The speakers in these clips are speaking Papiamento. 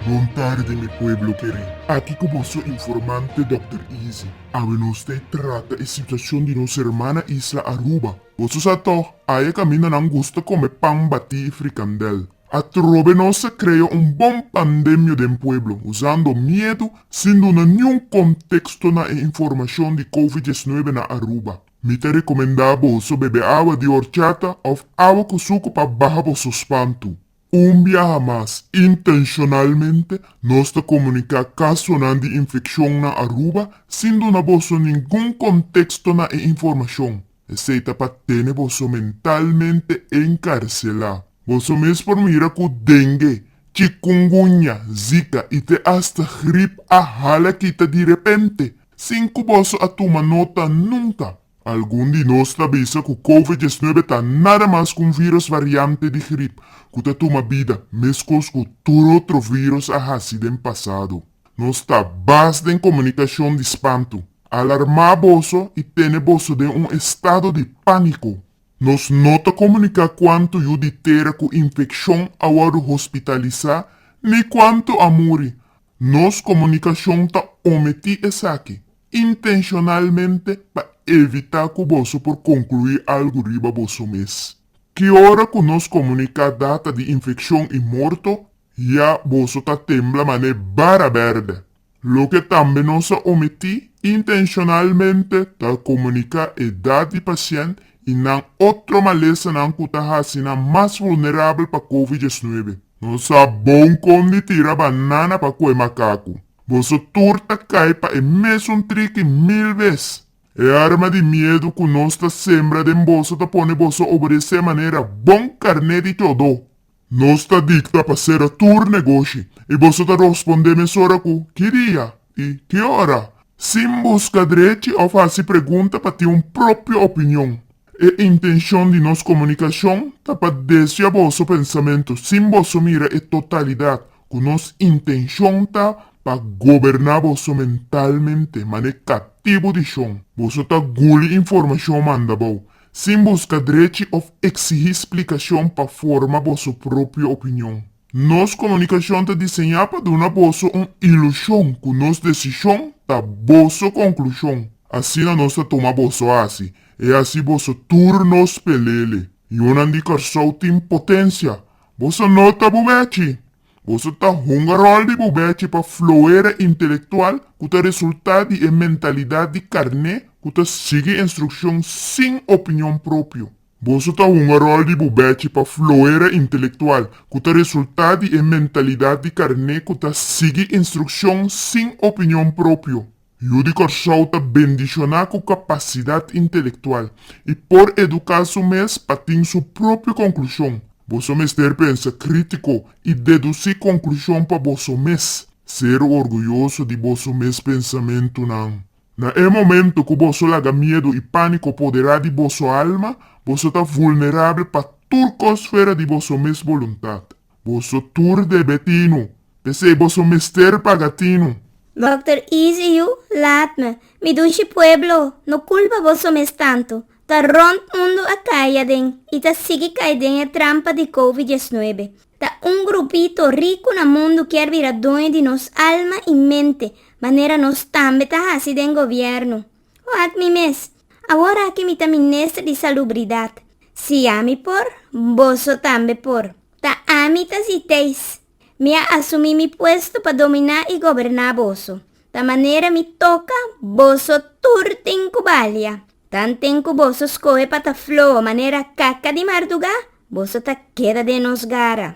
Bon tarde mi pueblo kere. Aki ku bo su informante Dòkter Easy. Awe nos ta e trata e situashon di nos hermana isla Aruba. Boso sa tòg, aya kaminda nan gusta kome pan batí i frikandèl. Atrobe nos a krea un bon pandemio den pueblo, usando miedu sin duna niun konteksto na e informashon di covid diesnuebe na Aruba. Mi ta rekomendá boso bebe awa di orchata òf awa ku suku pa baha boso spantu. Un biaha mas, intenshonalmente nos ta komuniká kasonan di infekshon na Aruba sin duna boso ningun konteksto na e informashon. Esei ta pa tene boso mentalmente enkarselá. Boso mes por mira ku dengue, chikungunya, zika i te asta grip a hala kita di repente, sin ku boso a tuma nota nunka. Algun di nos ta bisa ku Covid diesnuebe ta nada mas ku un viros variante di grip ku ta tuma bida, meskos ku tur otro viros a hasi den pasado. Nos ta bas den comunicacion di spantu, alarma boso y tene boso den un estado di panico. Nos no ta comunica cuanto yu di tera cu infeccion a wordo hospitalisa ni cuanto a muri. Nos comunicacion ta ometi esaki intencionalmente pa evita cu boso por conclui algo riba boso mes. Ki ora cu nos comunica data di infeccion y morto, Ya boso ta tembla mané bara bèrdè. Loke tambe nos a omití intenshonalmente ta komuniká edat di pasient i nan otro malesanan ku ta hasi nan mas vulnerabel pa covid diesnuebe. No sa bon kon di tira banana pa kue makaku. Boso tur ta kai pa e mesun triki mil bes. E arma di miedu ku nos ta sembra den boso ta pone boso obedeser manera bon karné di tjodó. Nos ta dicta pa cera tur negoshi y boso ta rosponde mesora cu ki dia y ki ora, sin busca drechi of haci pregunta pa tin un propio opinion. E intencion di nos comunicacion ta pa desvia boso pensamento sin boso mira e totalidad cu nos intencion ta pa goberna boso mentalmente mane catibu di shon. Boso ta guli informacion manda bao. Sin buska drechi of eksihí splikashon pa forma boso propio opinion. Nos komunikashon ta diseñá pa duna boso un ilushon ku nos desishon ta boso konklushon. Asina nos ta tuma boso hasi. E hasi boso tur nos pelele. Yunan di Kòrsou tin potensia. Boso no ta bubechi! Boso ta hunga ròl di bo bechi pa floera intelektual ku ta resultá di e mentalidat di karné ku ta sigui instrukshon sin opinion propio. Boso ta hunga ròl di bo bechi pa floera intelektual ku ta resultá di e mentalidat di karné ku ta sigui instrukshon sin opinion propio. Yu di Kòrsou ta bendishoná ku kapasidat intelektual i por eduká su mes pa tin su propio konklushon. Boso mester pensa krítiko i dedusí konklushon pa boso mes. Ser orguyoso di boso mes pensamentunan. Na e momentu ku boso laga miedu i pániko poderá di boso alma, boso ta vulnerabel pa tur kos fuera di boso mes boluntat. Boso tur debe tinu. P'esei boso mester paga tinu. Dòkter Easy yu laat me. Mi dushi pueblo no kulpa boso mes tantu. Ta rònt mundu a kai aden i ta sigui kai den e trampa di Covid diesnuebe. Ta un grupito riku na mundu kier bira doño di nos alma i mente, manera nos tambe ta hasi den gobièrnu. Hoat mi mes, awor aki mi ta minister di salubridad. Si ami por, boso tambe por. Ta ami ta si teis. Mi a asumi mi puesto pa dominá i goberná boso. Ta manera mi toka boso tur tin ku balia. Tan tin ku boso skohe pa ta flo manera kaka di mardugá, boso ta keda den nos gara.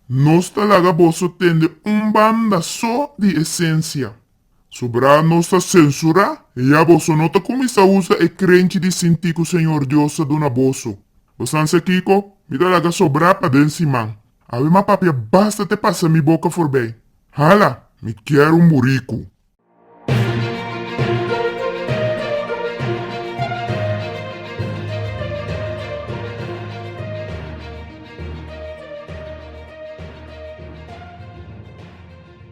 Nos ta laga boso tende un banda so di esensia. Sobrá nos ta sensurá, i ya boso no ta kuminsá usa e krenchi di sintí ku Señor Dios a duna boso. Bo san sa kiko? Mi ta laga sobrá paden siman. Ave ma papia basta te pasa mi boka forbei. Hala! Mi kier un buriku.